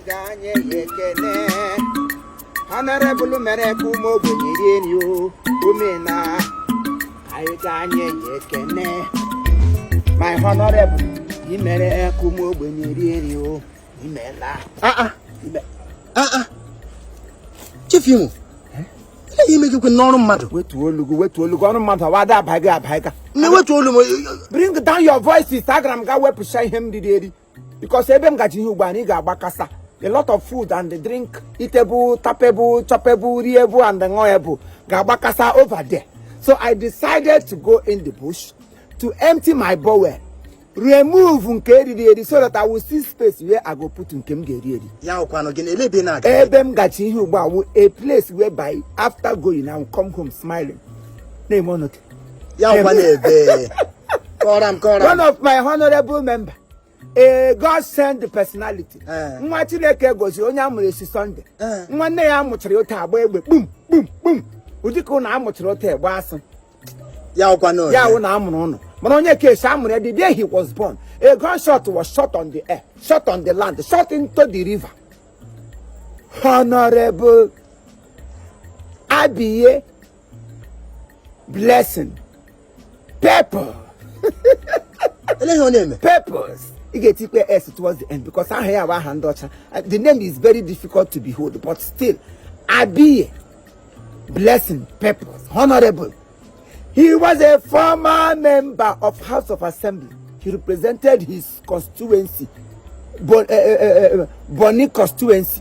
ga-anye ya ekene honorable mere ka ụmụ ogbenye rie nri o omena anyị ga-anye ya ekene my honorable i mere ka ụmụ ogbenye rie nri o imela ah, ah. ah, chief imo ihe ime gị kwe n'ọrụ mmadụ wetuo olu gị wetuo olu gị ọrụ mmadụ awa ada abaghị abaghị ka na-ewetu olu m bring down your voice instagram ga wepụcha ihe m riri eri because ebe m gaje ihe ugbu a nri ga-agbakasa a lot of food and drink eatable tappable choppable riable and ṅụable ga-agbakasa over there so i decided to go in the bush to empty my bowel remove nke eriri eri so that I will see space where I go put nke m ga-eri eri ya wụkwanụ gịnị elee ebe ị na-aga ebe m gaje ihe ugbu a wụ a place whereby after going I will come home smiling na-eme ọnọdụ ya wụkwanụ ebee kọọrọ m kọọrọ one of my honorable member a god send personality eh. nwa chineke gozi onye a mụrụ esi Sunday eh. nwa nne ya mụchara otu a gbaa egbe kpum kpum kpum ụdị ka ụnụ a mụchara otu egbe asị ya wụkwanụ ya wụ na a mụrụ ụnụ mana onye ke esi a mụrụ ya the day he was born a gunshot was shot on the air shot on the land shot into the river honorable abiye blessing purple eleghị ọ na-eme purpose ị ga-etikpe s towards the end because aha ya bụ aha ndị ọcha the name is very difficult to behold but still abiye blessing purpose honorable he was a former member of house of assembly he represented his constituency Bon, uh, uh, uh, Bonny constituency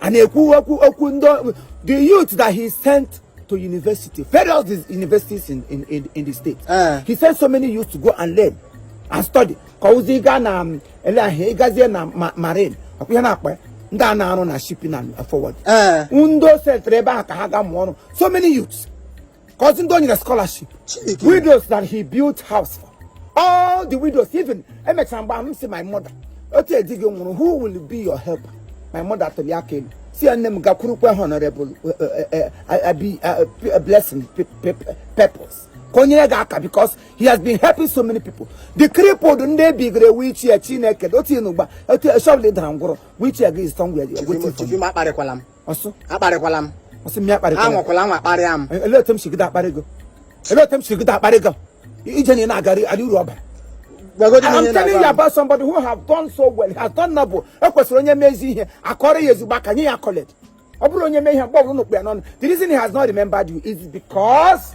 a na-ekwu okwu okwu ndị the youth that he sent to university various universities in, in, in, in the state uh. he sent so many youth to go and learn and study ka o ziga na um, elee ihe a ị gazie na marine ọkwa ihe a na-akpọ ya ndị a na-arụ na shipping and forward ndị o sendere ebe ahụ ka ha gaa mụọ ọrụ so many youths Kọzie ndị o nyere scholarship. Chineke. Widows that he built house for. All the widows, even emechara mgbe ahụ m sị my mother. Otu a di gị nwụrụ, who will be your helper? My mother tulie aka elu. Sị ya nne m gakwurukwa honorable uh, uh, uh, uh, abi- uh, p- uh, blessing pe- pe- pe- Pepple. Ka o nyere gị aka because he has been helping so many people. The crippled ndị e bugara wheelchair Chineke otu ị nọ ugbu a otu shọbụl dara ngwụrọ wheelchair gị is somewhere waiting for you. Chief Imo akparịkwala m. asị m akparịkwala m asị m gị akparịkwala anwakwala anwa akparịa m e, olee otu m si gide akparị gị olee otu m si gide akparị gị ije na ị na-agara adị uru ọbara I'm telling you about somebody who have done so well has done noble o kwesịrị onye mee ezi ihe a kụọrọ ya ezigbo aka nye ya accolade ọ bụrụ onye mee ihe mgbe ọbụla ụnụ kpụ ya n'ọnụ the reason he has not remembered you is because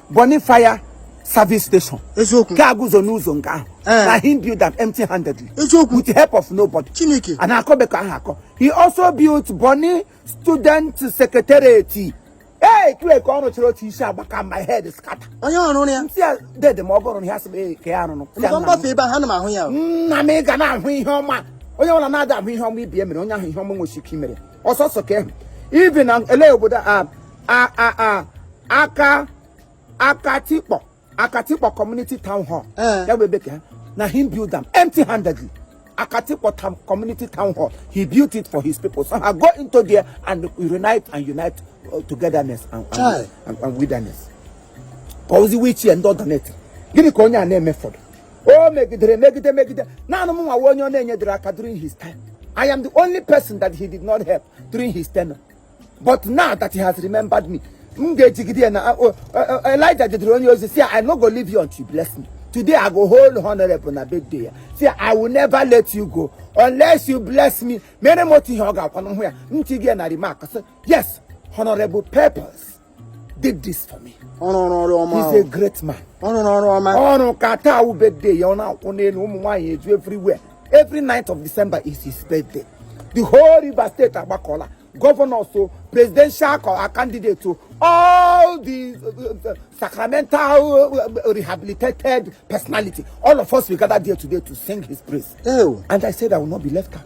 Bonny Fire service station eziokwu gaa guzo n'ụzọ nke ahụ Eh. na him build am empty handedly Eziokwu. with the help of nobody Chineke. a na-akọbe ka ọ ha akọ he also built Bonny student secretariat ihe niile ka ọ rụchara otu isi agbaka my head scatter onye ọrụ ya ntị a dede ma ọ gụrụ na ya sị m ee ka ya rụrụ Sị ya, maka nna m. m gbafee ebe ahụ ana m ahụ ya o. nna m ị ga na-ahụ ihe ọma onye ọbụla na-ada ahụ ihe ọma ibi emere onye ahụ ihe ọma nwechiri ike i mere ọsọsọ ka ị hụ ibi na ele obodo a aka akatikpọ akatikpọ community town hall eh. ya bụ ebe ka na him build am empty handedly akatikpọ community town hall he built it for his people so ha go into there and reunite and unite uh, togetherness and, and, and, and wilderness ka ọ wụzi wheelchair ndị ọ donate gịnị ka onye a na-emefọdụ o megidere megide megide naanị m nwa wụ onye ọ na-enyedere aka during his time I am the only person that he did not help during his tenure. but now that he has remembered me m ga-ejigide ya na ah, oh, eh, eh, Elijah jidere onye ozi sị I no go leave you until you bless me today I go hold honorable na birthday ya sị I will never let you go unless you bless me mere m otu ihe ọ ga-awụkwa m hụ ya m tick ya na remark sị yes honorable purpose did this for me. ọrụ ọrụ ọrụ ọma he's a great man. ọrụ ọrụ ọma. ọrụ ka taa wụ birthday ya ọ na-akwụ n'elu ụmụ nwaanyị eju everywhere every ninth of December is his birthday. the whole River State agbakọla governors o presidential candidates o all the uh, uh, sacramental uh, rehabilitated personality all of us we gather there today to sing his praise. Ew. and I said I will not be left out.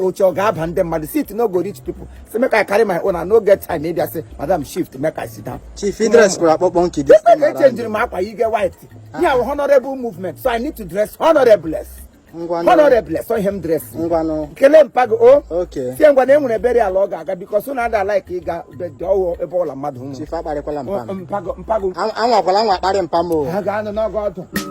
oche ọ ga-aba ndị mmadụ seat no go reach people so make I carry my own and no get time ịbịa sị madam shift make I sit down chief i dress kwuru akpọkpọ nke dị echenjiri m akwa yiri white yeah. honorable movement so I need to dress honorable honorable so ihe m dress kelee mpa gị o oh. sị ya ngwa na e nwere burial ọ ga-aga because ụnụ ada like ịga ọghọ ebe ọwụla mmadụ nwụrụ mpa gị o anwakwala anwa kparị mpa m oh. ha ga-anụ n'ọgọ ọdụ